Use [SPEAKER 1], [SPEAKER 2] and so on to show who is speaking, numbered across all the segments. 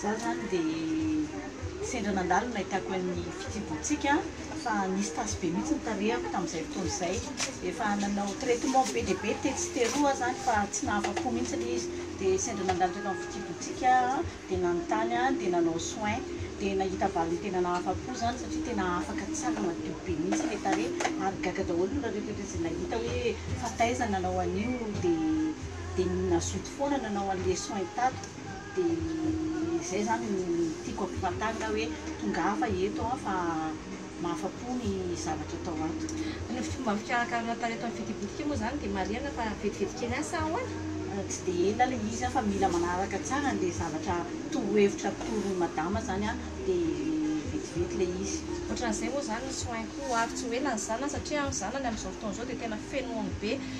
[SPEAKER 1] Za zany de sendra nandalo no nahitako an'ny fitsibohantsika fa nisy tasy be mihitsy ny tarehako tamin'izay fotoana izay. Efa nanao traitement be dia be tetsy sy teroa aho zany fa tsy nahafa-po mihitsy ilay izy. Dia sendra nandalo teto amin'ny fitsibohantsika dia nanontany aho dia nanao soin. Dia nahita valiny tena nahafa-po zany satria tena afaka tsara madio be mihitsy ilay tarehy ary gaga daholo nareo rehetra izay nahita hoe fa taiza nanao an'io dia. dia ny nazoto foana nanao an'le soin tato dia zay zany no tiako ampifantarina hoe tongava eto an fa mahafa-po ny zavatra atao ato. Ny fomba
[SPEAKER 2] fikarakarana atao eto amin'ny Fety Bodika moa izany dia marihana fa vetivety kely ihany sa ahoana? Tsy dia ela
[SPEAKER 1] ilay izy an fa mila manaraka tsara an'ilay zavatra torohevitra atoron'i Madama zany an dia vetivety ilay izy. Ohatran'izay moa izany ny
[SPEAKER 2] soin-ko ary tsy ho ela ny zanany satria ny zanany amin'izao fotoana izao dia tena fenoiny be.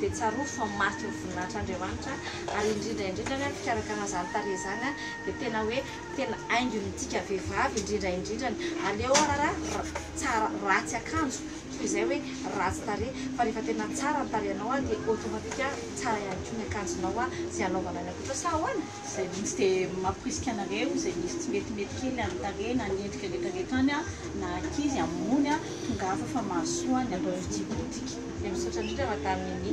[SPEAKER 2] dia tsarovy fa mariky ny voninahitr' Andriamanitra ary indrindra indrindra ny fikarakarana izany tarehy izany dia tena hoe tena haingony midika vehivavy indrindra indrindrany aleo arara tsara ratsy akanjo toy izay hoe ratsy tarehy fa rehefa tena tsara ny tarehinao dia automatique tsara ihany koa ny akanjonao sy hanaovanao ny ankoatra sa ahoana? Izay mihitsy dia
[SPEAKER 1] mamporisika anareo izay misy tsy metimety kely any tarehy na ny endrika rehetra rehetra any na ankizy hamono tongava fa mahasoa
[SPEAKER 2] ny
[SPEAKER 1] atao fitia politika. Dia
[SPEAKER 2] misaotra
[SPEAKER 1] indrindra Madame
[SPEAKER 2] Mimi.